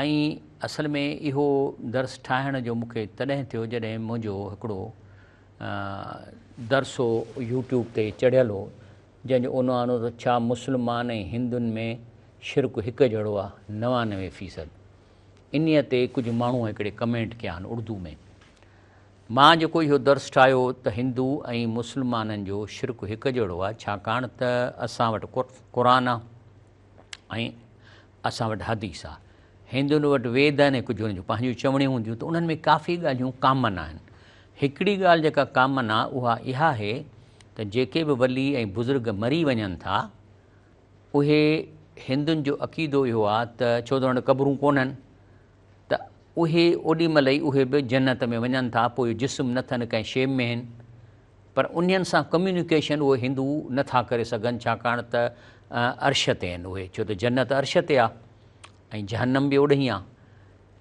۽ اصل ۾ اهو درس ٺاهڻ جو مون کي تڏهن ٿيو جڏهن منهنجو هڪڙو درس هو يوٽيوب تي چڙهيل هو جنهن جو عنوان هو ته ڇا مسلمان ۽ هندن ۾ شرڪ هڪ جهڙو آ نوانوي فيصد انهي تي ڪجهه ماڻهو هڪڙي ڪمينٽ ڪيا آهن اڙدو ۾ مان جيڪو اهو درس ٺاهيو ته هندو ۽ مسلمانن جو شرڪ هڪ جهڙو آ ڇاڪاڻ ته اسان وٽ قرآن آ ۽ اسان وٽ حديث آ. هندن وٽ ويد آهن ۽ ڪجهه انهن جون پنهنجون چوڻيون هونديون ته انهن ۾ ڪافي ڳالهيون ڪامن آهن. هڪڙي ڳالهه جيڪا ڪامن آ اها اها آهي ته جيڪي به ولي ۽ بزرگ مري وڃن ٿا اهي هندن جو عقيدو اهو آ ته ڇو ته انهن وٽ قبرون ڪونهن. ته اهي اوڏي مهل ئي اهي به جنت ۾ وڃن ٿا پوء جسم نه ٿن ڪنهن شيب ۾ هن پر انهن سان ڪميونيڪيشن اهي هندو نه ٿا ڪري سگهن ڇاڪاڻ ته عرش تي آهن اهي ڇو ته جنت عرش تي آهي ۽ جهنم به اوڏهين آهي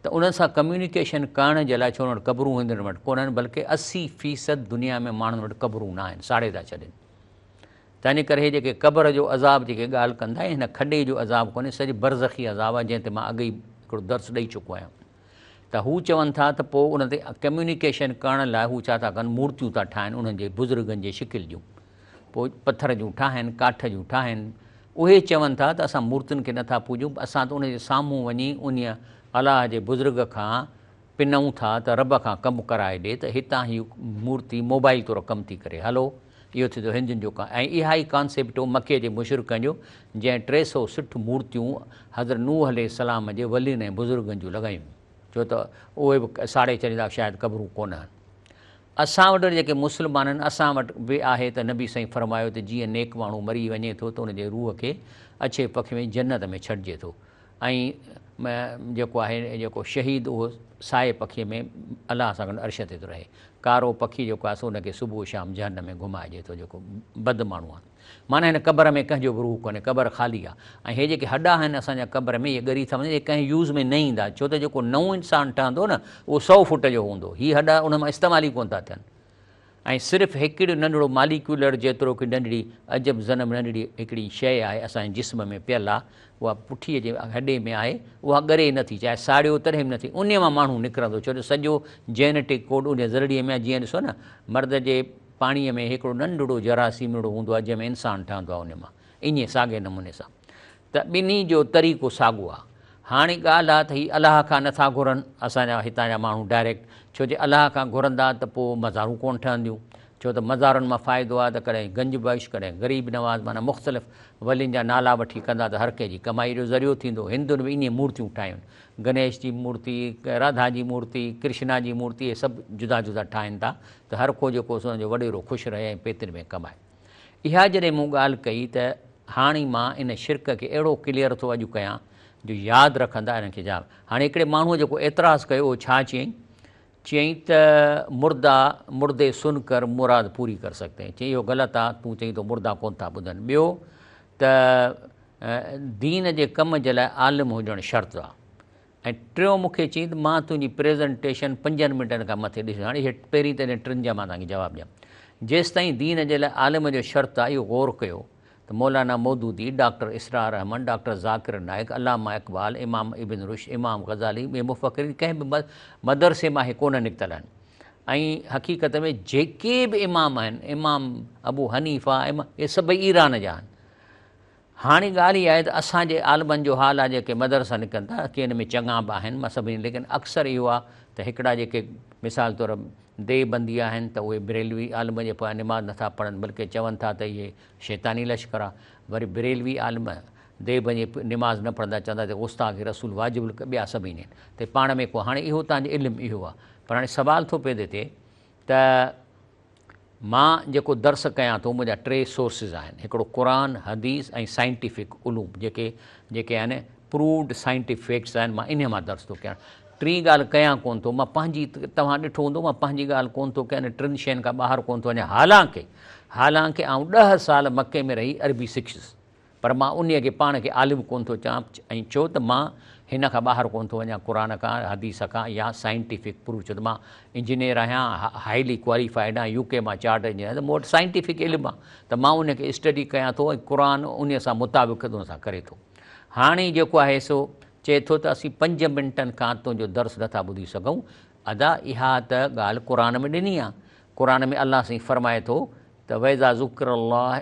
ته انهن سان ڪميونيڪيشن ڪرڻ جي لاء ڇو وٽ قبرون هندن وٽ ڪونهن بلڪه اسي فيصد دنيا ۾ ماڻهن وٽ قبرون نه آهن ساڙي ٿا ڇڏين تنهن ڪري هي جيڪي قبر جو عذاب جيڪي ڳالهه ڪندا هي هن کڏي جو عذاب ڪونهي سڄي برزخي عذاب آهي جنهن تي مان اڳ ئي هڪڙو درس ڏئي چڪو آهيان ته هو چون ٿا ته پوء ان تي ڪميونيڪيشن ڪرڻ لاء هو ڇا ٿا ڪن مورتيون ٿا ٺاهن انهن جي بزرگن جي شڪل جون پوء پٿر جون ٺاهن ڪاٺ جون ٺاهن اهي چون ٿا ته اسان مورتين کي نٿا پوڄون اسان ته ان جي سامهون وڃي انهي الله جي بزرگ کان پنئون ٿا ته رب کان ڪم ڪرائي ڏي ته هتان هي مورتي موبائل طور ڪم ٿي ڪري هلو اهو ٿي ٿو هندين جو ڪم ۽ اها ئي ڪانسيپٽ هو مڪي جي مشرڪن جو جنهن ٽي سؤ سٺ مورتيون حضرت نوح عليه السلام جي ولين ۽ بزرگن جون لڳايون ڇو ته اهي به ساڙي ڇڏيندا شايد قبرون ڪونهن اسان وٽ وري جيڪي مسلمانن اسان وٽ به آهي ته نبي سائين فرمايو ته جيئن نيڪ ماڻهو مري وڃي ٿو ته ان جي روح کي اڇي پکي ۾ جنت ۾ ڇڏجي ٿو ۽ جيڪو آهي جيڪو شهيد اهو سائي پکيء ۾ الله سان گڏ عرش تي ٿو رهي. ڪارو پکي جيڪو آهي سو ان کي صبح شام جهنم ۾ گهمائجي ٿو جيڪو بد ماڻهو آهي. معنيٰ هن قبر ۾ ڪنهن جو به روح ڪونهي قبر خالي آهي ۽ هي جيڪي هڏا آهن اسان جا قبر ۾ اهي ڳري ٿا وڃن اهي ڪنهن يوز ۾ نه ايندا ڇو ته جيڪو نئون انسان ٺهندو نه اهو سؤ فوٽ جو هوندو هي هڏا ان مان استعمال ئي ڪونه ٿا ٿين. ۽ صرف هڪڙيو ننڍڙو ماليڪيولر جيترو ڪي ننڍڙي عجب ذنب ننڍڙي هڪڙي شيء آهي اسان جي جسم ۾ پيل آهي اها پٺي جي هڏي ۾ آهي اها ڳري نه ٿي چاهي ساڙيو تڏهن به نه ٿي انهي مان ماڻهو نڪرندو ڇو جو سڄو جينيٽڪ ڪوڊ انهي ذرڙي ۾ آهي جيئن ڏسو نه مرد جي پاڻي ۾ هڪڙو ننڍڙو جراثيمڙو هوندو آهي جنهن ۾ انسان ٺهندو آهي انهي مان انهي ساڳئي نموني سان ته ٻنهي جو طريقو ساڳو آ. هاڻي ڳالهه آ ته هي الله کان نه ٿا گهرن اسان جا هتان جا ماڻهو ڊائريڪٽ ڇو جي الله کان گهرندا ته پو مزارون ڪونه ٺهنديون ڇو ته مزارن مان فائدو آ ته ڪڏهن گنج بخش ڪڏهن غريب نواز معنيٰ مختلف ولين جا نالا وٺي ڪندا ته هر ڪنهن جي ڪمائي جو ذريعو ٿيندو هندن به ائين مورتيون ٺاهين گنيش جي مورتي راڌا جي مورتي ڪرشنا جي مورتي اهي سڀ جدا جدا ٺاهين ٿا ته هر ڪو جيڪو سو جو وڏيرو خوش رهي ۽ پيتن ۾ ڪمائي. اها جڏهن مون ڳالهه ڪئي ته هاڻي مان ان شرڪ کي اهڙو ڪليئر ٿو اڄ ڪيان جو ياد رکندا انهن کي جهل هاڻي هڪڙي ماڻهوء جيڪو اعتراض ڪيو اهو ڇا چيائين؟ چيائين ته مردا مردي سن ڪر مراد پوري ڪر سڪتي هين چيائين اهو غلط آ تون چئين ٿو مردا ڪونه ٿا ٻڌن ٻيو ته دين جي ڪم جي لاء عالم هجڻ شرط آ ۽ ٽيون مون کي چيائين ته مان تنهنجي پريزنٽيشن پنجن منٽن کان مٿي ڏسي هاڻي اهي پهرين ته انهن ٽن جا مان توهان کي جواب ڏيان جيستائين دين جي لاء عالم جو شرط آهي اهو غور ڪيو ته مولانا مودودي، ڊاڪٽر اسرار احمد، ڊاڪٽر ذاڪر نائيڪ، علامه اقبال، امام ابن رشد، امام غزالي ٻين مفڪرين ڪنهن به مدرسي مان اهي ڪونه نڪتل آهن ۽ حقيقت ۾ جيڪي به امام آهن امام ابو حنيفه امام اهي سڀئي ايران جا آهن. هاڻي ڳالهه اها آهي ته اسان جي عالمن جو حال آهي جيڪي مدرسا نڪرن ٿا ڪي ان ۾ چڱا به آهن مان سڀني ليڪن اڪثر اهو آهي ته هڪڙا جيڪي مثال طور ديوبندي آهن ته اهي بريلوي عالم جي پويان نماز نٿا پڙهن بلڪه چون ٿا ته اهي شيطاني لشڪر آهي وري بريلوي عالم ديوبند جي نماز نه پڙهندا چون ٿا ته غستاخ رسول واجب القتل ٻيا سڀ ائين آهن ته پاڻ ۾ ڪو هاڻي اهو تنهنجو علم اهو آهي پر هاڻي سوال ٿو پيدي ٿئي ته مان جيڪو درس ڪيان ٿو منهنجا ٽي سورسز آهن هڪڙو قرآن، حديث ۽ سائنٽيفڪ علوم جيڪي جيڪي آهن پرووڊ سائنٽيف فيڪٽس آهن مان انهي مان درس ٿو ڪيان ٽين ڳالهه ڪيان ڪون ٿو مان پنهنجي توهان ڏٺو هوندو مان پنهنجي ڳالهه ڪون ٿو ڪيان ٽن شين کان ٻاهر ڪون ٿو وڃان حالانڪه حالانڪه آئون ڏهه سال مڪي ۾ رهي عربي سکيس. پر مان انهيء کي پاڻ کي عالم ڪونه ٿو چان ۽ ڇو ته مان هن کان ٻاهر ڪونه ٿو وڃان قرآن کان، حديث کان يا سائنٽيفڪ پروف ڇو ته مان انجنيئر آهيان هائلي ڪواليفائيڊ آهيان يو ڪي مان چارٽر انجنيئر آهيان ته مون وٽ سائنٽيفڪ علم آهي ته مان انهيء کي اسٽڊي ڪيان ٿو ۽ قرآن انهيء سان مطابقت ان سان ڪري ٿو هاڻي جيڪو آهي سو چئي ٿو ته اسين پنج منٽن کان تنهنجو درس نه ٿا ٻڌي سگهون ادا اها ته ڳالهه قرآن ۾ ڏني آهي قرآن ۾ الله سائين فرمائي ٿو ته واذا ذڪر الله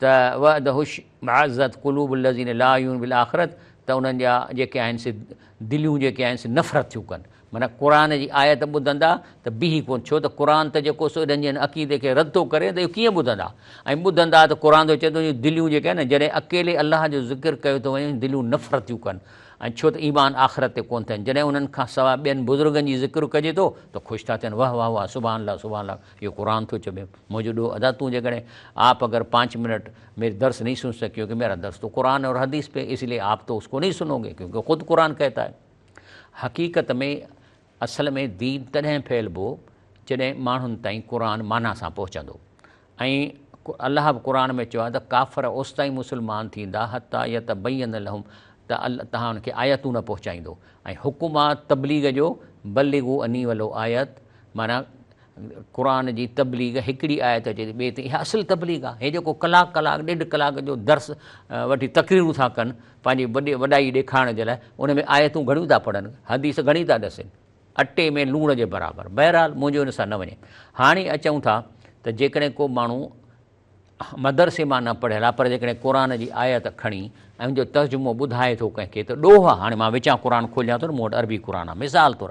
ته وعده اشمعزت قلوب الذين لا يؤمنون بالاخره ته انهن جا جيڪي آهن سي دليون جيڪي آهن سي نفرت ٿيون ڪن معنيٰ قرآن جي آيت ٻڌندا ته بيهي ڪونه ڇو ته قرآن ته جيڪو سو انهن جي هن عقيدي کي رد ٿو ڪري ته اهو ڪيئن ٻڌندا ۽ ٻڌندا ته قرآن ته چئي ٿو جو دليون جيڪي آهن نه جڏهن اڪيلي الله جو ذڪر ڪيو ٿو وڃي دليون نفرت ٿيون ڪن ۽ ڇو ته ايمان آخرت تي ڪونه ٿين جڏهن انهن کان سواء ٻين بزرگن جي ذڪر ڪجي ٿو ته خوش ٿا ٿين واه واه واه سبحان الله سبحان الله اهو قرآن ٿو چوي منهنجو ڏوهه ادا تون جيڪڏهن آپ اگر پانچ منٽ ميري درس نهي سن سڪيو ڪيونڪه ميرا درس تو قرآن اور حديث پي اس لئي آپ تو اس ڪو نهي سنو گي ڪيونڪه خود قرآن ڪهتا هي حقيقت ۾ اصل ۾ دين تڏهن ڦهلبو جڏهن ماڻهن تائين قرآن معنيٰ سان پهچندو ۽ الله به قرآن ۾ چيو آهي ته ڪافر اوستائين مسلمان ٿيندا حتٰي يتبين لهم ته الله تهان ان کي آيتون نه پهچائيندو ۽ حڪم آهي تبليغ جو بلغوا عني ولو آيت معنيٰ قرآن جي تبليغ هڪڙي آيت اچي ٿي ٻئي تي اها اصل تبليغ آ هي جيڪو ڪلاڪ ڪلاڪ ڏيڍ ڪلاڪ جو درس وٺي تقريرون ٿا ڪن پنهنجي وڏي وڏائي ڏيکارڻ جي لاء ان ۾ آيتون گهڻيون ٿا پڙهن حديث گهڻي ٿا ڏسن اٽي ۾ لوڻ جي برابر بهرحال منهنجو ان سان نه وڃي هاڻي اچون ٿا ته جيڪڏهن ڪو ماڻهو مدرسي مان نه پڙهيل آ پر جيڪڏهن قرآن جي آيت کڻي ۽ ان جو ترجمو ٻڌائي ٿو ڪنهن کي ته ڏوهه آ هاڻي مان وچان قرآن کوليان ٿو نه مون وٽ عربي قرآن آ مثال طور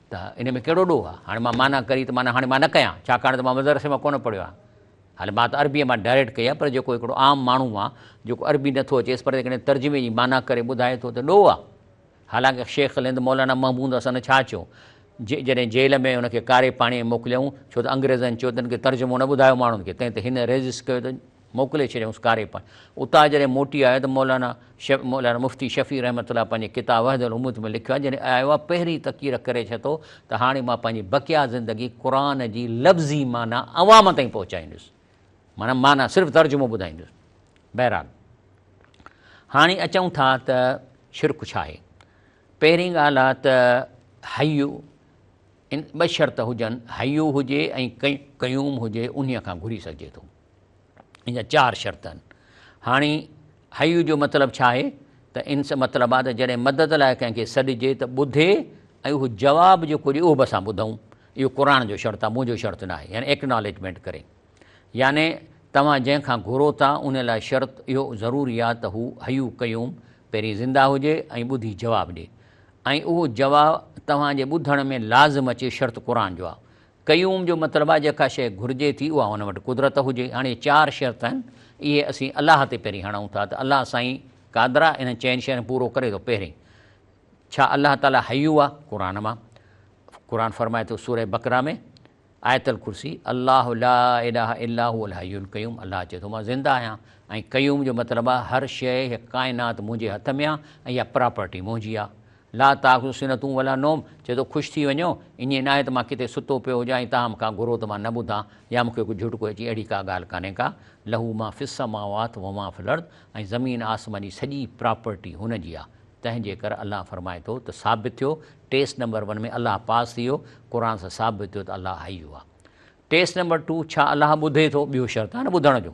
ته ان ۾ ڪهڙو ڏوهه آهي؟ هاڻي مان معنيٰ ڪري ته معنيٰ هاڻي مان نه ڪيان، ڇاڪاڻ ته مان مدرسي مان ڪونه پڙهيو آهيان. هاڻي مان ته عربيء مان ڊائريڪٽ ڪئي آهي، پر جيڪو هڪڙو عام ماڻهو آهي، جيڪو عربي نه ٿو اچيس، پر جيڪڏهن ترجمي جي معنيٰ ڪري ٻڌائي ٿو ته ڏوهه آهي. حالانڪه شيخ الهند مولانا محمود حسن ڇا چيو، جڏهن جيل ۾ هن کي ڪاري پاڻيء ۾ موڪليائون، ڇو ته انگريزن چيو ته هن کي ترجمو نه ٻڌايو ماڻهن کي، تنهن تي هن ريزسٽ ڪيو ته، موڪلي ڇڏيائونس ڪاريپڻ. اتان جڏهن موٽي آيو ته مولانا مولانا مفتي شفيع رحمة الله پنهنجي ڪتاب وحدة الامة ۾ لکيو آهي جڏهن آيو آهي پهرين ته ڪيڙ ڪري ڇتو ته هاڻي مان پنهنجي بقيه زندگي قرآن جي لفظي معنيٰ عوام تائين پهچائيندس معنيٰ معنيٰ صرف ترجمو ٻڌائيندس بهرحال هاڻي اچون ٿا ته شرڪ ڇا آهي پهرين ڳالهه آهي ته حي ٻه شرط هجن حي هجي ۽ قيوم هجي انهيء کان گهري سگهجي ٿو. ان جا چار شرط آهن. هاڻي حيّ جو مطلب ڇا آهي ته ان سان مطلب آهي ته جڏهن مدد لاء ڪنهن کي سڏجي ته ٻڌي ۽ اهو جواب جيڪو ڏئي اهو به اسان ٻڌئون. اهو قرآن جو شرط آهي، منهنجو شرط ناهي. يعني ايڪنالجمينٽ ڪري. يعني توهان جنهن کان گهرو ٿا ان لاء شرط اهو ضروري آهي ته هو حيّ قيوم پهرين زنده هجي ۽ ٻڌي جواب ڏئي ۽ اهو جواب توهان جي ٻڌڻ ۾ لازم اچي شرط قرآن جو آهي. قيوم جو مطلب آهي جيڪا شيء گهرجي ٿي اها ان وٽ قدرت هجي. هاڻي چار شرط آهن اهي اسين الله تي پهرين هڻون ٿا ته الله سائين قادرا انهن چئن شين کي پورو ڪري ٿو پهرين ڇا الله تعالي حيو آهي قرآن مان قرآن فرمائي ٿو سورة بقره ۾ آيت الڪرسي الله لا اله الا هو الحي القيوم الله چئي ٿو مان زنده آهيان ۽ قيوم جو مطلب آهي هر شيء هيء ڪائنات منهنجي هٿ ۾ آهي ۽ اها پراپرٽي منهنجي آهي لا تاخذه سنة ولا نوم چئي ٿو خوش ٿي وڃو ائين ناهي ته مان ڪٿي ستو پيو هجان ۽ توهان مون کان گهرو ته مان نه ٻڌان يا مون کي ڪو جهٽڪو اچي اهڙي ڪا ڳالهه ڪانهي ڪا لهو ما في السماوات و ما في الارض ۽ زمين آسمان جي سڄي پراپرٽي هن جي آهي تنهن جي ڪر الله فرمائي ٿو ته ثابت ٿيو ٽيسٽ نمبر ون ۾ الله پاس ٿي ويو قرآن سان ثابت ٿيو ته الله حي آهي ٽيسٽ نمبر ٽو ڇا الله ٻڌي ٿو ٻيو شرط آهي نه ٻڌڻ جو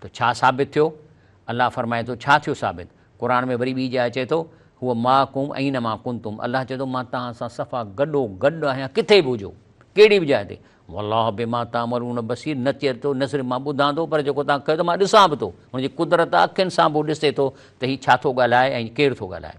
ته ڇا ثابت ٿيو؟ الله فرمائي ٿو، ڇا ٿيو ثابت؟ قرآن ۾ وري ٻي جاء اچي ٿو، هو معڪم اينما ڪنتم الله چئي ٿو مان توهان سان صفا گڏو گڏ آهيان ڪٿي به هجو، ڪهڙي به جاء تي. والله بما تعملون بصير نه چئي ٿو نه صرف مان ٻڌان ٿو پر جيڪو توهان ڪيو ٿا مان ڏسان به ٿو. هن جي قدرت اکين سان به هو ڏسي ٿو ته هي ڇا ٿو ڳالهائي ۽ ڪير ٿو ڳالهائي.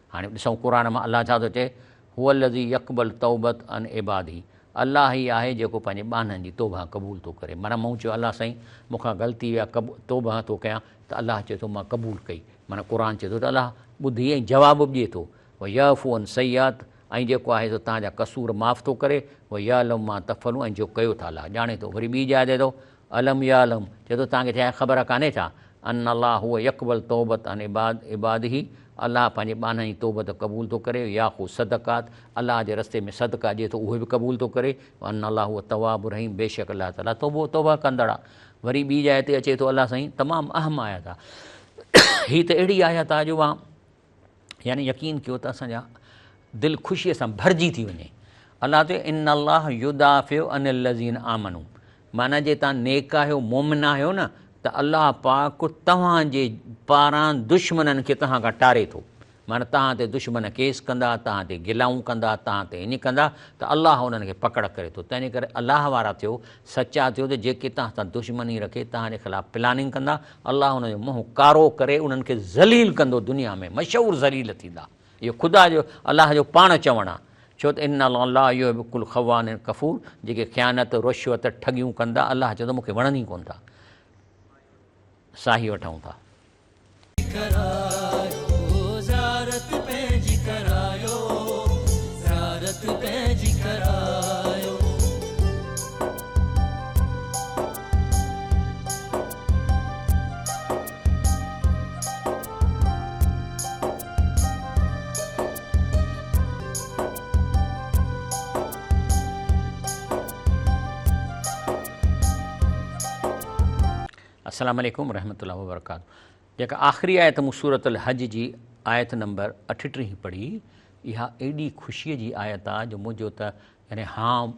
هاڻي ڏسون قرآن مان الله ڇا ٿو چئي، هو الذي يقبل توبت عن عباده الله ئي آهي جيڪو پنهنجي ٻانهن جي توبه قبول ٿو ڪري معنيٰ مون چيو الله سائين مون کان غلطي ويا قب توبه ٿو ڪيان ته الله چئي ٿو مان قبول ڪئي معنيٰ قرآن چئي ٿو ته الله ٻڌي ۽ جواب به ڏئي ٿو ويعفو عن سيئات ۽ جيڪو آهي سو تنهنجا قصور معاف ٿو ڪري ويعلم ما تفعلون ۽ جو ڪيو ٿا الله ڄاڻي ٿو وري ٻي جاء تي ٿو الم يعلم، چئي ٿو توهان کي ڇا اها خبر ڪانهي ڇا؟ ان الله هو يقبل التوبة عن عباد عباده، الله پنهنجي ٻانهن جي توبت قبول ٿو ڪري، وياخذ الصدقات، الله جي رستي ۾ صدقا ڏئي ٿو اهي به قبول ٿو ڪري، وان الله هو التواب الرحيم، بيشڪ الله تعاليٰ توبو توبه ڪندڙ آ. وري ٻي جاء تي اچي ٿو الله سائين تمام اهم آيت آ هي ته اهڙي آيت آ جو اها. يعني يقين ڪيو ته اسان جا دل خوشيء سان ڀرجي ٿي وڃي. الله چيو ان الله يدافع عن الذين آمنوا معنيٰ جي توهان نيڪ آهيو مؤمن آهيو نه ته الله پاڪ توهان جي پاران دشمنن کي توهان کان ٽاري ٿو معنيٰ توهان تي دشمن ڪيس ڪندا توهان تي گلائون ڪندا توهان تي ائين ڪندا ته الله انهن کي پڪڙ ڪري ٿو تنهنجي ڪري الله وارا ٿيو سچا ٿيو ته جيڪي توهان سان دشمني رکي توهان جي خلاف پلاننگ ڪندا الله انهن جو منهن ڪارو ڪري انهن کي ذليل ڪندو دنيا ۾ مشهور ذليل ٿيندا اهو خدا جو الله جو پاڻ چوڻ آ ڇو ته ان الله لا يحب ڪل خوان ڪفور جيڪي خيانت رشوت ٺڳيون ڪندا الله چوندو مونکي وڻن ئي ڪون ٿا ساهي وٺون ٿا. السلام عليڪم ورحمة الله وبرڪاته جيڪا آخري آيت مون سورة الحج جي آيت نمبر اٺٽيهه پڙهي اها ايڏي خوشيء جي آيت آ جو منهنجو ته يعني هاڻ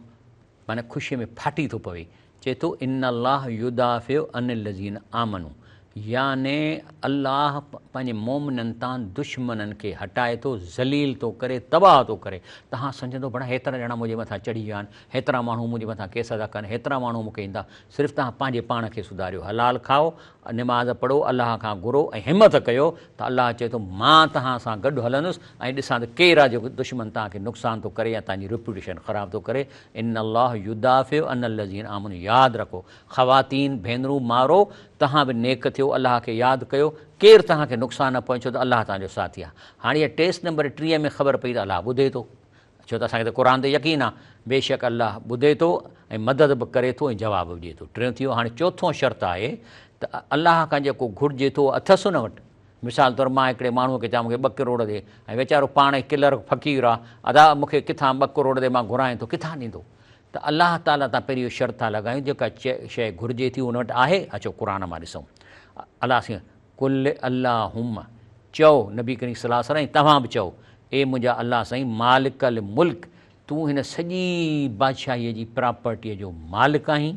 معنيٰ خوشيء ۾ ڦاٽي ٿو پوي چئي ٿو، ان الله يدافع عن الذين آمنو يعني الله پنهنجي مؤمنن تان دشمنن کي هٽائي ٿو، ذليل ٿو ڪري، تباهه ٿو ڪري. تهان سمجهندو بڙا هيترا ڄڻا منهنجي مٿان چڙهي ويا آهن، هيترا ماڻهو منهنجي مٿان ڪيس ادا ڪن، هيترا ماڻهو مون کي ايندا. صرف تهان پنهنجي پاڻ کي سڌاريو، حلال کائو، نماز پڙهو، الله کان گهرو ۽ همٿ ڪيو ته الله چئي ٿو مان تهان سان گڏ هلندس ۽ ڏسان ته ڪير آهي جيڪو دشمن تهان کي نقصان ٿو ڪري يا تهان جي ريپوٽيشن خراب ٿو ڪري ان الله يدافع عن الذين آمنوا ياد رکو خواتين ڀينرون مارو تهان به نيڪ ٿيو الله کي ياد ڪيو ڪير تهان کي نقصان نه پهچيو ته الله تهان جو ساٿي آهي هاڻي اها ٽيسٽ نمبر ٽيهه ۾ خبر پئي ته الله ٻڌي ٿو ڇو ته اسان کي ته قرآن تي يقين آهي بيشڪ الله ٻڌي ٿو ۽ مدد به ڪري ٿو ۽ جواب به ڏي ٿو ٽيون ٿي ويو هاڻي چوٿون شرط آهي ته الله کان جيڪو گهرجي ٿو اهو اٿس ان وٽ مثال طور مان هڪڙي ماڻهوء کي چوان مونکي ٻه ڪروڙ ڏي ۽ ويچارو پاڻ ئي ڪلرڪ فقير آ ادا مونکي ڪٿان ٻه ڪروڙ ڏي مان گهرانئين ٿو ڪٿان ڏيندو ته الله تعالي تان پهرين اهو شرط ٿا لڳايون جيڪا شيء گهرجي ٿي ان وٽ آهي اچو قرآن مان ڏسون الله سين قل اللهم چئو نبي ڪريم صلي الله عليه وسلم توهان به چئو اي منهنجا الله سائين مالڪ الملڪ تون هن سڄي بادشاهي جي پراپرٽي جو مالڪ آهين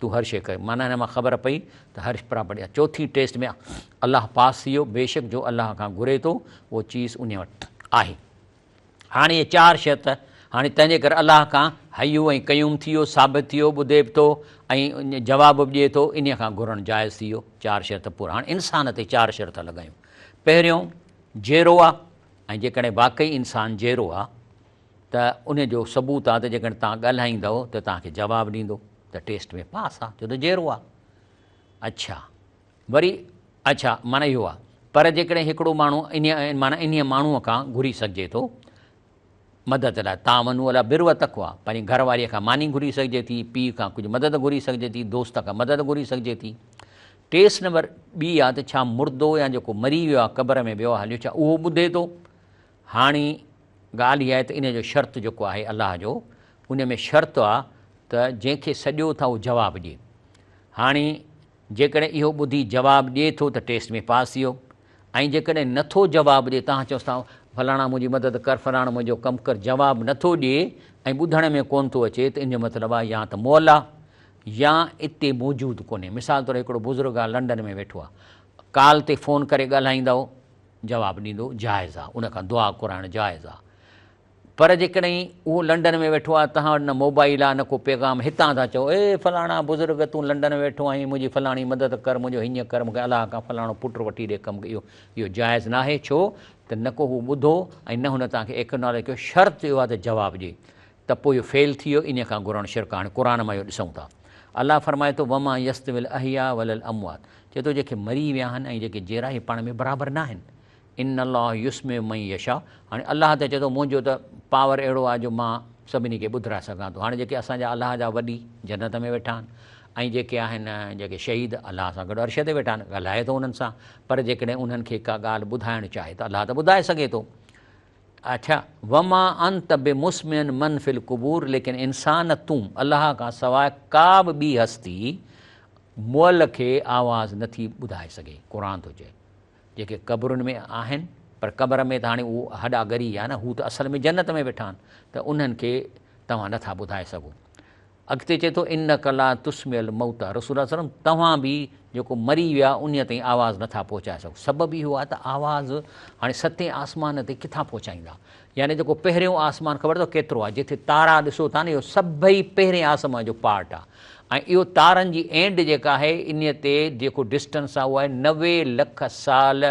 تون هر شيء ڪرين. معنيٰ هن مان خبر پئي ته هر پراپرٽي چوٿين ٽيسٽ ۾ الله پاس ٿي ويو، بيشڪ جو الله کان گهري ٿو اهو چيز انهي وٽ آهي. هاڻي اهي چار شيء ته هاڻي تنهنجي ڪري الله کان حيّ ۽ قيّوم ٿي ويو، ثابت ٿي ويو، ٻڌي به ٿو ۽ جواب به ڏئي ٿو، انهي کان گهرڻ جائز ٿي ويو، چار شيء ته پورا. هاڻي انسان تي چار شيء ٿا لڳايون. پهريون جيئرو آهي ۽ جيڪڏهن واقعي انسان جيئرو آهي ته ان جو ثبوت آ ته جيڪڏهن توهان ڳالهائيندؤ ته توهان کي جواب ڏيندو ته ٽيسٽ ۾ پاس آ ڇو ته جيرو آ. اڇا وري اڇا معنيٰ اهو آ پر جيڪڏهن هڪڙو ماڻهو انهيء معنيٰ انهيء ماڻهوء کان گهري سگهجي ٿو مدد لاء تعاونوا علي البر والتقويٰ پنهنجي گهر واريء کان ماني گهري سگهجي ٿي، پيء کان ڪجهه مدد گهري سگهجي ٿي، دوست کان مدد گهري سگهجي ٿي. ٽيسٽ نمبر ٻي آ ته ڇا مردو يا جيڪو مري ويو آ قبر ۾ ويو آ هليو ڇا اهو ٻڌي ٿو هاڻي ڳالهه اها آهي ته ان جو شرط جيڪو آهي الله جو ان ۾ شرط آ ته جنهن کي سڏيو ٿا اهو جواب ڏي. هاڻي جيڪڏهن اهو ٻڌي جواب ڏي ٿو ته ٽيسٽ ۾ پاس ٿيو ۽ جيڪڏهن نه ٿو جواب ڏي توهان چئوس ٿا فلاڻا منهنجي مدد ڪر فلاڻو منهنجو ڪم ڪر جواب نه ٿو ڏي ۽ ٻڌڻ ۾ ڪونه ٿو اچي ته ان جو مطلب آ يا ته مئل آ يا اتي موجود ڪونهي مثال طور هڪڙو بزرگ آ لنڊن ۾ ويٺو آ ڪال تي فون ڪري ڳالهائيندؤ جواب ڏيندو جائز آ ان کان دعا ڪرائڻ جائز آ پر جيڪڏهن اهو لنڊن ۾ ويٺو آ توهان وٽ نه موبائيل آ نه ڪو پيغام هتان ٿا چئو اي فلاڻا بزرگ تون لنڊن ۾ ويٺو آهين منهنجي فلاڻي مدد ڪر منهنجو هينئن ڪر مونکي الله کان فلاڻو پٽ وٺي ڏي ڪم اهو اهو جائز ناهي ڇو ته نه ڪو هو ٻڌو ۽ نه هن توهان کي ايڪنالج ڪيو شرط اهو آ ته جواب ڏي ته پوء اهو فيل ٿي ويو انهي کان گهرڻ شرڪ آ هاڻي قرآن مان اهو ڏسون ٿا الله فرمائي ٿو وما يستوي الاحياء ولا الاموات چئي ٿو جيڪي مري ويا آهن ۽ جيڪي جيئرا اهي پاڻ ۾ برابر ناهن. ان الله يسمع من يشاء هاڻي الله ته چئي ٿو منهنجو ته پاور اهڙو آهي جو مان سڀني کي ٻڌرائي سگهان ٿو هاڻي جيڪي اسان جا الله جا وڏي جنت ۾ ويٺا آهن ۽ جيڪي آهن جيڪي شهيد الله سان گڏ عرش تي ويٺا آهن ڳالهائي ٿو انهن سان پر جيڪڏهن انهن کي ڪا ڳالهه ٻڌائڻ چاهي ته الله ته ٻڌائي سگهي ٿو. اڇا وما انت بمسمع من في القبور ليڪن انسان تون الله کان سواء ڪا به ٻي هستي مئل کي آواز نٿي ٻڌائي سگهي قرآن ٿو چئي جيڪي قبرن ۾ آهن پر قبر ۾ ته هاڻي اهو هڏا ڳري ويا نه هو ته اصل ۾ جنت ۾ ويٺا آهن ته انهن کي توهان نٿا ٻڌائي سگهو اڳتي چئي ٿو انک لا تسمع الموتيٰ رسول الله صلي الله عليه وسلم توهان به جيڪو مري ويا انهي تائين آواز نٿا پهچائي سگهو سبب اهو آهي ته آواز هاڻي ستين آسمان تي ڪٿان پهچائيندا يعني جيڪو پهريون آسمان خبر اٿو ڪيترو آهي جتي تارا ڏسو ٿا نه اهو سڀئي پهرين آسمان جو پارٽ آهي ۽ اهو تارن جي اينڊ جيڪا آهي انهي تي جيڪو ڊسٽنس آهي اهو آهي نوي لک سال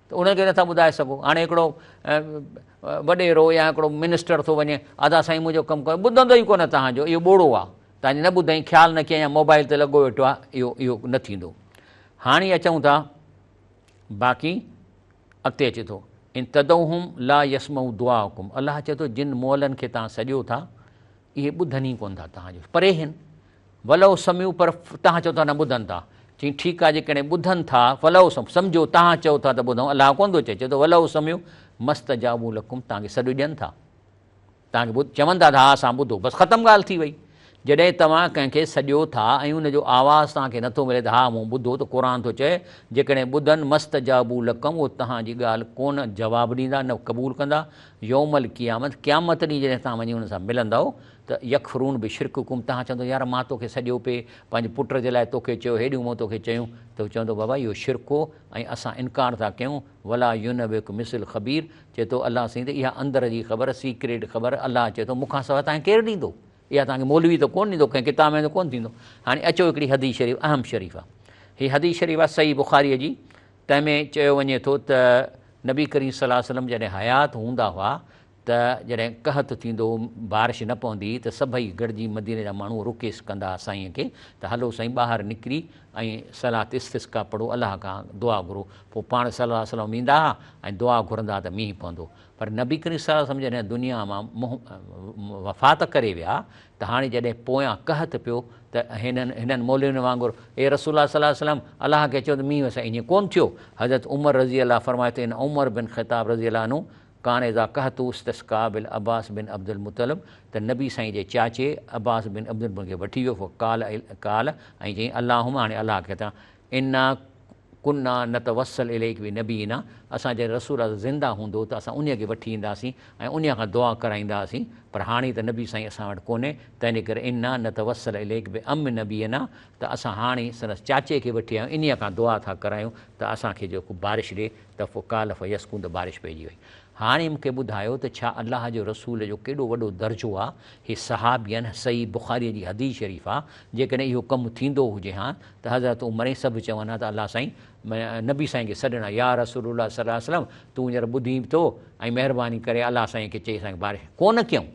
ته انهن کي نٿا ٻڌائي سگهو هاڻي هڪڙو وڏيرو يا هڪڙو منسٽر ٿو وڃي ادا سائين منهنجو ڪم ڪيو ٻڌندو ئي ڪونه توهان جو اهو ٻوڙو آ توهان نه ٻڌئين خيال نه ڪيئن يا موبائل تي لڳو ويٺو آ اهو اهو نه ٿيندو هاڻي اچون ٿا باقي اڳتي اچي ٿو ان تدعوهم لا يسمعوا دعاءكم الله چي ٿو جن مولن کي توهان سڏيو ٿا اهي ٻڌن ئي ڪونه ٿا توهان جو پري هن ولو سمعوا پر توهان چئو ٿا نه ٻڌن ٿا. چيائين ٺيڪ آهي جيڪڏهن ٻڌن ٿا ولو سمعوا سمجهو توهان چئو ٿا ته ٻڌون الله ڪونه ٿو چئي چئي ٿو ولو سمعوا مستجابوا لڪم توهان کي سڏ ڏين ٿا توهان کي ٻڌ چون ٿا ته ها اسان ٻڌو بس ختم ڳالهه ٿي وئي جڏهن توهان ڪنهن کي سڏيو ٿا ۽ ان جو آواز توهان کي نٿو ملي ته ها مون ٻڌو ته قرآن ٿو چئي جيڪڏهن ٻڌن مستجابوا لڪم اهو توهان جي ڳالهه ڪونه جواب ڏيندا نه قبول ڪندا يوم القيامت قيامت ڏينهن جڏهن توهان وڃي انهن سان ملندؤ ته يڪفرون بشرڪڪم توهان چوندو يار مان توکي سڏيو پي پنهنجي پٽ جي لاء توکي چيو هيڏيون مون توکي چيون ته هو چوندو بابا اهو شرڪ هو ۽ اسان انڪار ٿا ڪيون ولا ينبئک مثل خبير چئي ٿو الله سائين ته اها اندر جي خبر سيڪريٽ خبر الله چئي ٿو مون کان سواء توهان کي ڪير ڏيندو اها توهان کي مولوي ته ڪونه ڏيندو ڪنهن ڪتاب ۾ ته ڪونه ٿيندو هاڻي اچو هڪڙي حديث شريف اهم شريف آ هي حديث شريف آ صحيح بخاري جي تنهن ۾ چيو وڃي ٿو ته نبي ڪريم صلي الله عليه وسلم جڏهن حيات هوندا هئا ته جڏهن قحط ٿيندو، بارش نه پوندي ته سڀئي گڏجي مديني جا ماڻهو رڪيس ڪندا سائينء کي ته هلو سائين ٻاهر نڪري ۽ صلات استسقيٰ پڙهو الله کان دعا گهرو پوء پاڻ صلي الله عليه وسلم ويندا ها ۽ دعا گهرندا ها ته مينهن پوندو پر نبي ڪريم صلي الله عليه وسلم جڏهن دنيا مان منهن وفات ڪري ويا ته هاڻي جڏهن پويان قحط پيو ته هنن هنن مولوين وانگر اي رسول الله صلي الله عليه وسلم الله کي چئو ته مينهن وسائي ائين ڪونه ٿيو حضرت عمر رضي الله فرمايو ته ان عمر بن خطاب رضي الله عنه ڪان اذا قحط استسقا بالعباس بن عبدالمطلب ته نبي سائين جي چاچي عباس بن عبدالمطلب کي وٺي ويو فقال قال ۽ چيائين اللهم هاڻي الله کي چان انا ڪنا نتوسل اليك بنبينا اسان جڏهن رسول الله زنده هوندو ته اسان انهي کي وٺي اينداسين ۽ انهي کان دعا ڪرائينداسين پر هاڻي ته نبي سائين اسان وٽ ڪونهي تنهنجي ڪري انا نتوسل اليك بعم نبينا ته اسان هاڻي سندس چاچي کي وٺي آيا آهيون انهي کان دعا ٿا ڪرايون ته اسان کي جيڪو بارش ڏي ته فقال فيسقون ته بارش پئجي وئي. هاڻي مون کي ٻڌايو ته ڇا الله جي رسول جو ڪيڏو وڏو درجو آ، هي صحابين، صحيح بخاريء جي حديث شريف آ، جيڪڏهن اهو ڪم ٿيندو هجي ها ته حضرت عمر ۽ سڀ چون ها ته الله سائين نبي سائين کي سڏن ها يا رسول الله صلعم تون هينئر ٻڌين به ٿو ۽ مهرباني ڪري الله سائين کي چئي اسان کي بارش ڪونه ڪيون.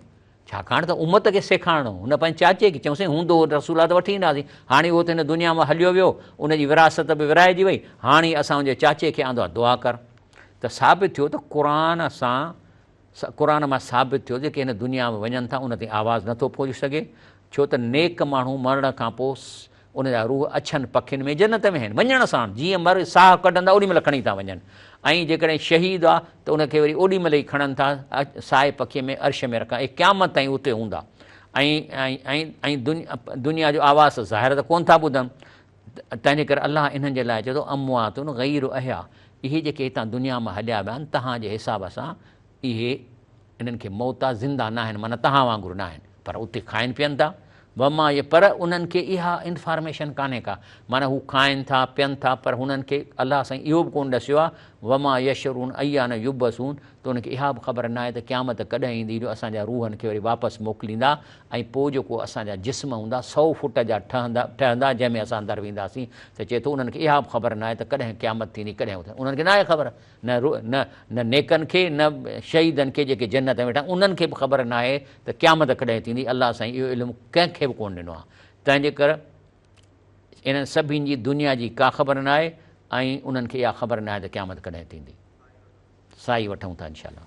ڇاڪاڻ ته امت کي سيکارڻو هو. هن پنهنجي چاچي کي چيو، سائين هوندو ته رسول الله ته وٺي ايندا هئاسين، هاڻي اهو ته هن دنيا مان هليو ويو، ان جي وراثت به ورهائجي وئي، هاڻي اسان ان جي چاچي کي آندو آهي، دعا ڪر. ته ثابت ٿيو ته قرآن سان قرآن مان ثابت ٿيو جيڪي هن دنيا ۾ وڃن ٿا ان تائين آواز نٿو پهچي سگهي، ڇو ته نيڪ ماڻهو مرڻ کان پوء ان جا روح اڇن پکين ۾ جنت ۾ آهن، وڃڻ ساڻ جيئن مر ساهه ڪڍندا اوڏي مهل کڻي ٿا وڃن ۽ جيڪڏهن شهيد آ ته ان کي وري اوڏي مهل ئي کڻن ٿا ساهي پکي ۾ عرش ۾ رکن اهي قيامت تائين اتي هوندا ۽ ۽ ۽ دنيا جو آواز ظاهر ته ڪونه ٿا ٻڌن تنهنجي ڪري الله انهن جي لاء چئي ٿو اموات غير احياء اهي جيڪي هتان دنيا مان هليا ويا آهن تهان جي حساب سان اهي انهن کي موت آ، زنده ناهن معنيٰ توهان وانگر ناهن پر اتي کائن پين ٿا وما يه پر انهن کي اها انفارميشن ڪانهي ڪا معنيٰ هو کائن ٿا پين ٿا پر هنن کي الله سائين اهو به ڪونه ڏسيو آ وما يشعرون ايان يبعثون ته انهن کي اها به خبر ناهي ته قيامت ڪڏهن ايندي جو اسان جا روحن کي وري واپس موڪليندا ۽ پوء جيڪو اسان جا جسم هوندا سؤ فوٽ جا ٺهندا ٺهندا جنهن ۾ اسان اندر وينداسين ته چئي ٿو انهن کي اها به خبر ناهي ته ڪڏهن قيامت ٿيندي ڪڏهن انهن کي ناهي خبر نه روح، نه نه نيڪن کي، نه شهيدن کي جيڪي جنت ۾ ويٺا آهن، انهن کي به خبر ناهي ته قيامت ڪڏهن ٿيندي، الله سائين اهو علم ڪنهن کي به ڪونه ڏنو آهي، تنهنجي ڪر انهن سڀني جي دنيا جي ڪا خبر ناهي ۽ انهن کي اها خبر ناهي ته قيامت ڪڏهن ٿيندي، سائي وٺون ٿا انشاء الله.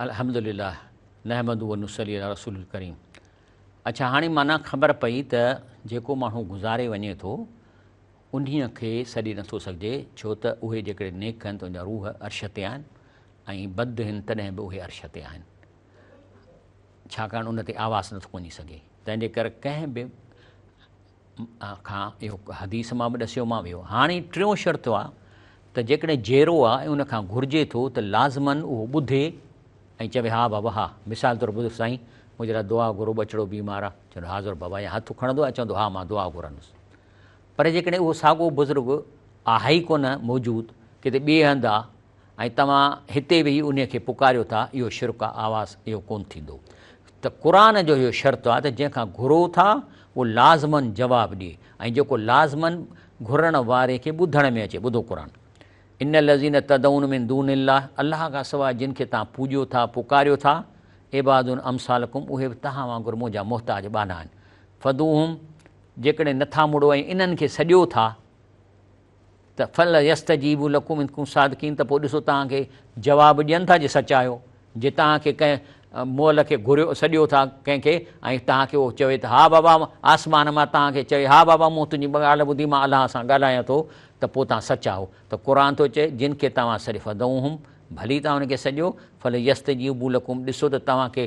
الحمد لله نحمده ونصلي علي رسول الڪريم اڇا هاڻي معنيٰ خبر پئي ته جيڪو ماڻهو گذاري وڃي ٿو انهيء کي سڏي نٿو سگهجي ڇو ته اهي جيڪڏهن نيڪ هن ته ان جا روح عرش تي آهن ۽ بد هن تڏهن به اهي عرش تي آهن ڇاڪاڻ ان تي آواز نٿو وڃي سگهي تنهن جي ڪري ڪنهن به کان اهو حديث مان به ڏسيو مان ويو هاڻي ٽيون شرط آ ته جيڪڏهن جيرو آ ۽ ان کان گهرجي ٿو ته لازمن اهو ٻڌي ۽ چوي ها بابا ها مثال طور ٻڌ سائين منهنجي لاء دعا گهرو ٻچڙو بيمار آ چوندو حاضر بابا يا هٿ کڻندو يا چوندو ها مان دعا گهرندس پر جيڪڏهن اهو ساڳو بزرگ آهي ڪونه موجود ڪٿي ٻئي هنڌ آ ۽ توهان هتي ويهي انهي کي پڪاريو ٿا، اهو شرڪ آهي، آواز اهو ڪونه ٿيندو. ته قرآن جو اهو شرط آهي ته جنهن کان گهرو ٿا اهو لازماً جواب ڏي ۽ جيڪو لازماً گهرڻ واري کي ٻڌڻ ۾ اچي. ٻڌو قرآن. ان الذين تدعون من دون الله الله کان سواء جن کي توهان پوڄيو ٿا، پڪاريو ٿا، عباد امثالڪم اهي به توهان وانگر منهنجا محتاج ٻانها آهن. فدعوهم جيڪڏهن نٿا مڙو ۽ انهن کي سڏيو ٿا، ته فليستجيبوا لکم ان کنتم صادقين ته پوء ڏسو توهان کي جواب ڏين ٿا جي سچا آهيو جي توهان کي ڪنهن مئل کي گهريو سڏيو ٿا ڪنهن کي ۽ توهان کي اهو چوي ته ها بابا آسمان مان توهان کي چوي ها بابا مون تنهنجي ڳالهه ٻڌي مان الله سان ڳالهايان ٿو ته پوء توهان سچا آهيو ته قرآن ٿو چئي جن کي توهان سڏيو فدعوهم ڀلي توهان ان کي سڏيو فليستجيبوا لکم ڏسو ته توهان کي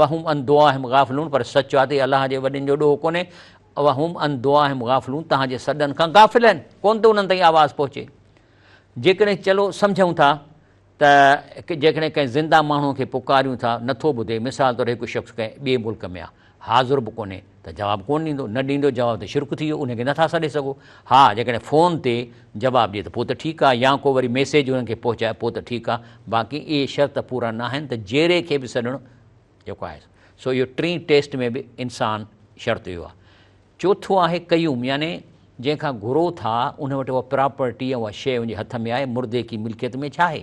وهم عن دعاهم غافلون پر سچ آ تي الله جي وڏين جو ڏوهه ڪونهي وهم عن دعاهم غافلون توهان جي سڏن کان غافل آهن ڪونه ٿو انهن تائين آواز پهچي جيڪڏهن چلو سمجهون ٿا ته جيڪڏهن ڪنهن زنده ماڻهو کي پڪاريون ٿا نٿو ٻڌي مثال طور هڪ شخص ڪنهن ٻئي ملڪ ۾ آ حاضر به ڪونهي ته جواب ڪونه ڏيندو، نه ڏيندو جواب ته شرڪ ٿي ويو، انهي کي نٿا سڏي سگهو، ها جيڪڏهن فون تي جواب ڏي ته پوء ته ٺيڪ آهي يا ڪو وري ميسيج انهن کي پهچائي پوء ته ٺيڪ آهي، باقي اهي شرط پورا ناهن ته جيري کي به سڏڻو جيڪو آهي سو اهو ٽين ٽيسٽ ۾ به انسان شرط اهو آهي. چوٿون آهي قيوم يعني جنهن کان گهرو ٿا ان وٽ اها پراپرٽي يا اها شيء ان جي هٿ ۾ آهي، مردي ڪي ملڪيت ۾ ڇا آهي؟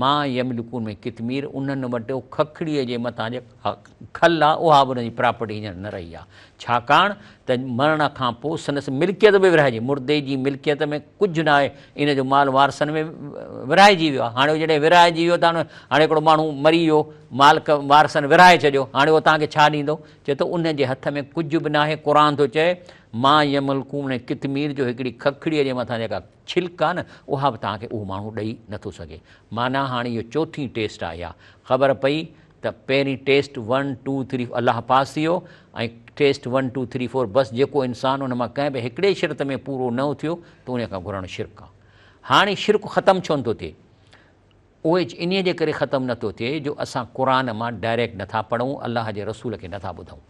ما يملڪون ۾ قطمير انهن وٽ اهو ککڙيء جي مٿان جيڪا کل آهي اها به انهن جي پراپرٽي هينئر نه رهي آهي ڇاڪاڻ ته مرڻ کان پوء سندس ملڪيت به ورهائجي مردي جي ملڪيت ۾ ڪجهه نه آهي ان جو مال وارثن ۾ ورهائجي ويو آهي هاڻي جڏهن ورهائجي ويو ته هاڻي هڪڙو ماڻهو مري ويو مال وارثن ورهائي ڇڏيو هاڻي اهو توهان کي ڇا ڏيندو چئي ٿو انهن جي هٿ ۾ ڪجهه به ناهي قرآن ٿو چئي ما يملڪون ۾ قطمير جو هڪڙي ککڙيء جي مٿان جيڪا ڇلڪ آ نه اها به توهان کي اهو ماڻهو ڏئي نه ٿو سگهي. معنيٰ هاڻي اهو چوٿين ٽيسٽ آ اها خبر پئي ته پهرين ٽيسٽ ون ٽو ٿري الله پاس ٿي ويو ۽ test one two three four بس جيڪو انسان ان مان ڪنهن به هڪڙي شرط ۾ پورو نه اٿيو ته انهي کان گهرڻ شرڪ آ. هاڻي شرڪ ختم ڇونه ٿو ٿئي؟ اهي انهي جي ڪري ختم نه ٿو ٿئي جو اسان قرآن مان ڊائريڪٽ نه ٿا پڙهون الله جي رسول کي نه ٿا ٻڌون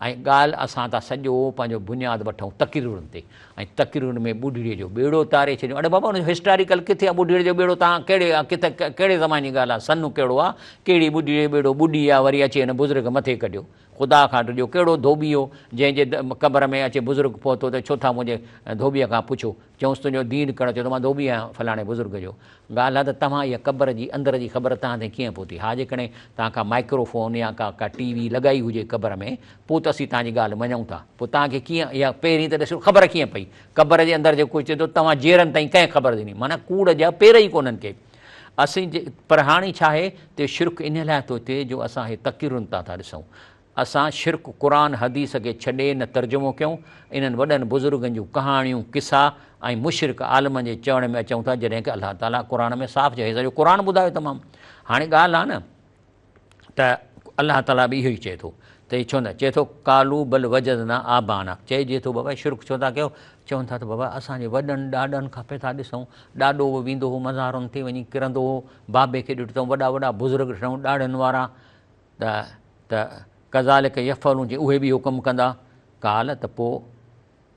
۽ ڳالهه اسان ٿا سڄو پنهنجو بنياد وٺون تقريرن تي ۽ تقريرن ۾ ٻڍڙي جو ٻيڙو تاري ڇڏيون اڙي بابا ان جو هسٽاريڪل ڪٿي آ ٻڍڙي جو ٻيڙو تان ڪهڙي ڪٿي ڪهڙي زماني جي ڳالهه آ سن ڪهڙو آ ڪهڙي ٻڍڙي جو ٻيڙو ٻڏي آ وري اچي هن بزرگ مٿي ڪڍيو خدا کان ڊڄو، ڪهڙو ڌوٻي هو، جنهن جي قبر ۾ اچي بزرگ پهتو ته ڇو ٿا منهنجي ڌوٻيء کان پڇو؟ چيائونس، تنهنجو دين ڪهڙو چئي ٿو؟ مان ڌوٻي آهيان فلاڻي بزرگ جو. ڳالهه آهي ته توهان اها قبر جي اندر جي خبر توهان تائين ڪيئن پهتي؟ ها جيڪڏهن توهان ڪا مائڪرو فون يا ڪا ڪا ٽي وي لڳائي هجي قبر ۾ پوء ته اسين توهان جي ڳالهه مڃون ٿا. پوء توهان کي ڪيئن اها پهرين ته ڏسو خبر ڪيئن پئي؟ قبر جي اندر جيڪو ڪجهه ٿيندو توهان جيئرن تائين ڪنهن خبر ڏني؟ معنيٰ ڪوڙ جا پير ئي ڪونهن ڪي. اسين جي پر هاڻي ڇا آهي ته شرڪ انهي لاء ٿو ٿئي جو اسان اهي تقريرون تان ٿا ڏسون. اسان شرڪ قرآن حديث کي ڇڏي نه ترجمو ڪيون، انهن وڏن بزرگن جون ڪهاڻيون، قصا ۽ مشرڪ عالمن جي چوڻ ۾ اچون ٿا جڏهن ڪه الله تعاليٰ قرآن ۾ صاف چيو هي سڄو قرآن ٻڌايو تمام هاڻي ڳالهه آهي نه ته الله تعاليٰ به اهو ئي چئي ٿو ته هي ڇو نه چئي ٿو قالو بل وجدنا آبانا چئجي ٿو بابا شرڪ ڇو ٿا ڪيو چون ٿا ته بابا اسان جي وڏن ڏاڏن کان پئي ٿا ڏسون ڏاڏو به ويندو هو مزارن تي وڃي ڪرندو هو بابي کي ڏٺو اٿم وڏا وڏا بزرگ ڏٺائون ڏاڙهن وارا ته ته کزالڪ يفعلون جي اهي به اهو ڪم ڪندا ڪال ته پوء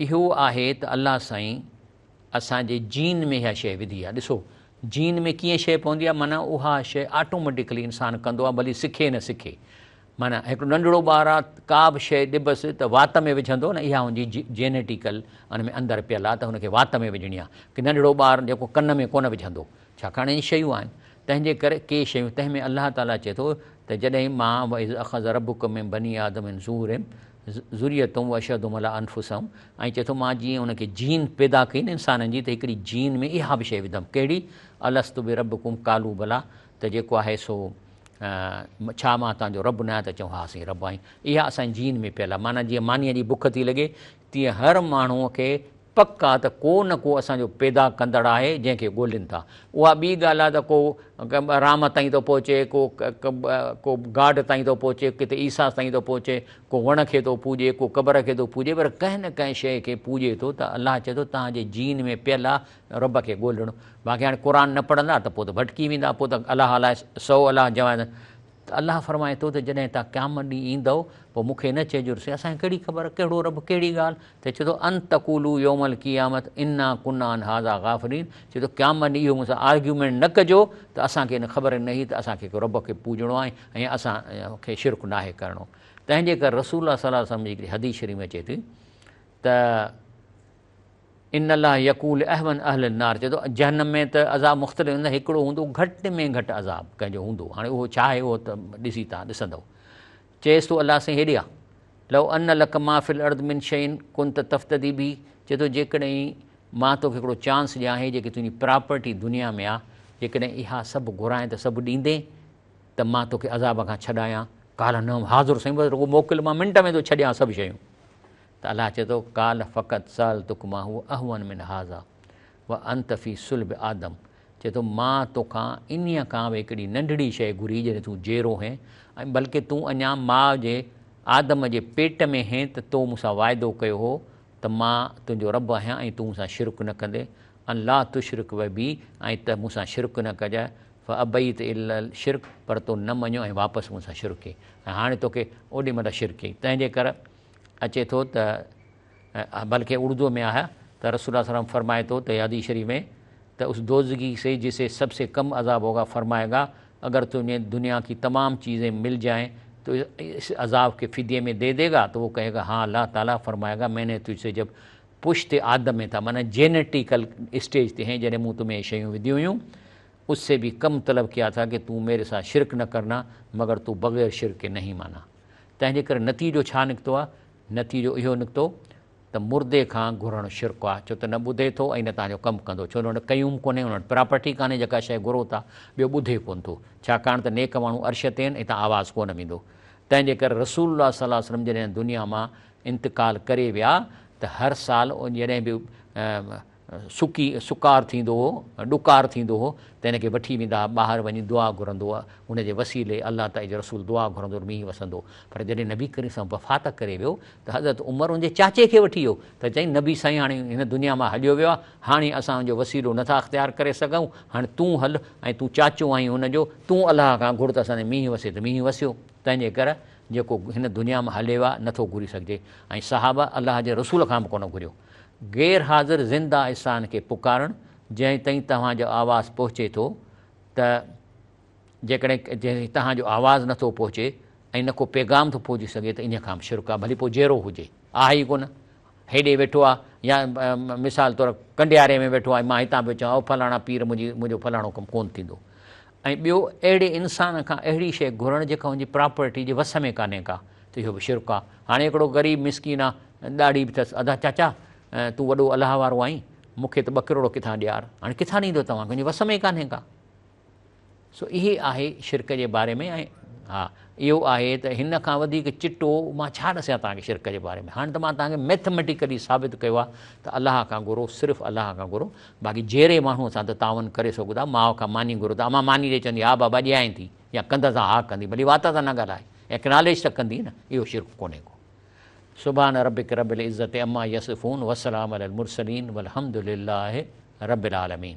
اهو آهي ته الله سائين اسان جي جين ۾ اها شيء وڌي آهي ڏسو جين ۾ ڪيئن شيء پوندي آهي معنيٰ اها شيء آٽوميٽڪلي انسان ڪندو آهي ڀلي سکي نه سکي معنيٰ هڪڙو ننڍڙو ٻار آهي ڪا به شيء ڏبس ته وات ۾ وجهندو نه اها هنجي جينيٽيڪل ان ۾ اندر پيل آهي ته هن کي وات ۾ وجهڻي آهي ڪي ننڍڙو ٻار جيڪو ڪن ۾ ڪونه وجهندو ڇاڪاڻ اهي شيون آهن تنهن جي ڪري ڪي شيون تنهن ۾ الله تعاليٰ چئي ٿو ته جڏهن مان واذ اخذ ربک من بني آدم من ظهورهم ذريتهم واشهدهم علي انفسهم ۽ چئي ٿو مان جيئن ان کي جين پيدا ڪئي نه انسانن جي ته هڪڙي جين ۾ اها به شيء وڌم ڪهڙي الست بربڪم قالو بلا ته جيڪو آهي سو ڇا مان توهان جو رب ناهيان ته چئون ها سائين رب آهين اها اسان جي جين ۾ پيل آهي معنيٰ جيئن مانيء جي بک ٿي لڳي تيئن هر ماڻهوء کي پڪ آ ته ڪو نه ڪو اسان جو پيدا ڪندڙ آهي جنهن کي ڳولين ٿا. اها ٻي ڳالهه آ ته ڪو رام تائين ٿو پهچي، ڪو ڪو گاڊ تائين ٿو پهچي، ڪٿي عيسيٰ تائين ٿو پهچي، ڪو وڻ کي ٿو پوڄي، ڪو قبر کي ٿو پوڄي پر ڪنهن نه ڪنهن شيء کي پوڄي ٿو ته الله چئي ٿو توهان جي جين ۾ پيل آ رب کي ڳولڻ. باقي هاڻي قرآن نه پڙهندا ته پوء ته ڀٽڪي ويندا، پوء ته الاهه الاهه سئو الاهه جوان ته الله فرمائي ٿو ته جڏهن توهان قيامت ڏينهن ايندؤ پوء مون کي نه چئجو ته اسان کي ڪهڙي خبر ڪهڙو رب ڪهڙي ڳالهه ته چئي ٿو ان تقولو يوم القيامت انا ڪنا عن هذا غافلين چئي ٿو قيامت ڏينهن اهو مون سان آرگيومينٽ نه ڪجو ته اسان کي ان خبر نه هئي ته اسان کي رب کي پوڄڻو آهي ۽ اسان کي شرڪ ناهي ڪرڻو تنهنجي ڪري رسول الله صلي الله عليه وسلم جي هڪڙي حديث شريف ۾ اچي ٿي ته ان الله يقول اهون اهل النار چئي ٿو جهنم ۾ ته عذاب مختلف هوندا هڪڙو هوندو گهٽ ۾ گهٽ عذاب ڪنهن جو هوندو هاڻي اهو ڇا آهي اهو ته ڏسي تان ڏسندؤ چيس ٿو الله سائين هيڏي آ لو ان لک ما في الارض من شين ڪنت تفتدي به چئي ٿو جيڪڏهن مان توکي هڪڙو چانس ڏيان هي جيڪي تنهنجي پراپرٽي دنيا ۾ آ جيڪڏهن اها سڀ گهرائين ته سڀ ڏيندين ته مان توکي عذاب کان ڇڏايان قال نعم حاضر سائين بس رڳو موڪل مان منٽ ۾ ٿو ڇڏيان سڀ شيون ته الله چئي ٿو، قال فقد سالتک ما هو اهون من هذا وانت في صلب آدم چئي ٿو مان توکان انهيء کان به هڪڙي ننڍڙي شيء گهري جڏهن تون جيرو هين ۽ بلڪه تون اڃا ماء جي آدم جي پيٽ ۾ هين ته تو مون سان واعدو ڪيو هو ته مان تنهنجو رب آهيان ۽ تون مون سان شرڪ نه ڪندين ان لا تشرڪ و بي ۽ ته مون سان شرڪ نه ڪجئه فابيت الا الشرڪ پر تو نه مڃيو ۽ واپس مون سان شرڪ ڪئين ۽ هاڻي توکي اوڏي مهل شرڪ ڪئين تنهنجي ڪر اچي ٿو ته بلڪه اردوء ۾ آهي ته رسول الله صلي الله عليه وسلم فرمائي ٿو ته حديث شريف ۾ ته اس دوزخي سي جسي سڀ سي ڪم عذاب هوگا فرمائي گا اگر تجهي دنيا ڪي تمام چيزين مل جائين تو اس عذاب کي فديي ۾ دي دي گا تو وو ڪهي گا هان الله تعالي فرمائي گا مين ني تجهه سي جب پشت آدم ۾ ٿا معنيٰ جينيٽيڪل اسٽيج تي هين جڏهن مون تو ۾ هي شيون وڌيون هيون اس سي به ڪم طلب ڪيا ٿا ڪي تون ميري سا شرڪ نه ڪرنا مگر تو بغير شرڪ ڪي نهين معنيٰ تنهن جي ڪري نتيجو ڇا نڪتو آهي؟ نتيجو اهو نڪتو ته مردي کان گهرڻ شرڪ آهي ڇو ته نه ٻڌي ٿو ۽ نه توهان جو ڪم ڪندو ڇو نه ان وٽ قيوم ڪونهي ان وٽ پراپرٽي ڪانهي جيڪا شيء گهرو ٿا ٻيو ٻڌي ڪونه ٿو ڇاڪاڻ ته نيڪ ماڻهو عرش تي آهن اتان آواز ڪونه ويندو تنهن جي ڪري رسول الله صلي الله عليه وسلم جڏهن دنيا مان انتقال ڪري ويا ته هر سال جڏهن به سڪي سڪار ٿيندو هو، ڏڪار ٿيندو هو ته هن کي وٺي ويندا ها، ٻاهر وڃي دعا گهرندو ها، ان جي وسيلي الله تعالي جو رسول دعا گهرندو ته مينهن وسندو، پر جڏهن نبي ڪريم صلي الله عليه وسلم وفات ڪري ويو ته حضرت عمر ان جي چاچي کي وٺي ويو ته چيائين نبي سائين هاڻي هن دنيا مان هليو ويو آهي، هاڻي اسان ان جو وسيلو نه ٿا اختيار ڪري سگهون، هاڻي تون هل ۽ تون چاچو آهين هن جو، تون الله کان گهر ته اسان تي مينهن وسي ته مينهن وسيو، تنهنجي ڪري جيڪو هن دنيا مان هليو آهي نه ٿو گهري سگهجي ۽ صحابه الله جي رسول کان به ڪونه گهريو. غير حاضر زنده احسان کي پڪارڻ جنهن تائين توهان جو آواز پهچي ٿو ته جيڪڏهن جنهن تائين توهان جو آواز نه ٿو پهچي ۽ نه ڪو پيغام ٿو پهچي سگهي ته انهيء کان به شرڪ آهي ڀلي پوء جيئرو هجي آهي ئي ڪونه هيڏي ويٺو آهي يا مثال طور ڪنڊياري ۾ ويٺو آهي مان هتان پيو چوان او فلاڻا پير منهنجي منهنجو فلاڻو ڪم ڪونه ٿيندو ۽ ٻيو اهڙي انسان کان اهڙي شيء گهرڻ جيڪا هن جي پراپرٽي جي وس ۾ ڪانهي ڪا ته اهو به شرڪ آهي. هاڻي هڪڙو غريب مسڪين آ ڏاڙهي به اٿس ادا چاچا تون وڏو الله وارو آهين مون کي ته ٻه ڪروڙ ڪٿان ڏيار هاڻي ڪٿان ڏيندو توهان کي هن جي وس ۾ ڪانهي ڪا سو اهي آهي شرڪ جي باري ۾ ۽ ها اهو آهي ته هن کان وڌيڪ چٽو مان ڇا ڏسيان توهان کي شرڪ جي باري ۾ هاڻي ته مان توهان کي ميٿميٽيڪلي ثابت ڪيو آهي ته الله کان گهرو صرف الله کان گهرو باقي جهيڙي ماڻهوء سان ته تعاون ڪري سگهو ٿا، ماء کان ماني گهرو ته امان ماني ڏئي چوندي ها بابا ڏيانء ٿي يا ڪنڌ سان ها ڪندي ڀلي وات سان نه ڳالهاء اڪناليج ته ڪندي نه اهو شرڪ ڪونهي ڪو. سبحان ربک رب العزت عما يصفون وسلام علی المرسلين والحمد لله رب العالمين.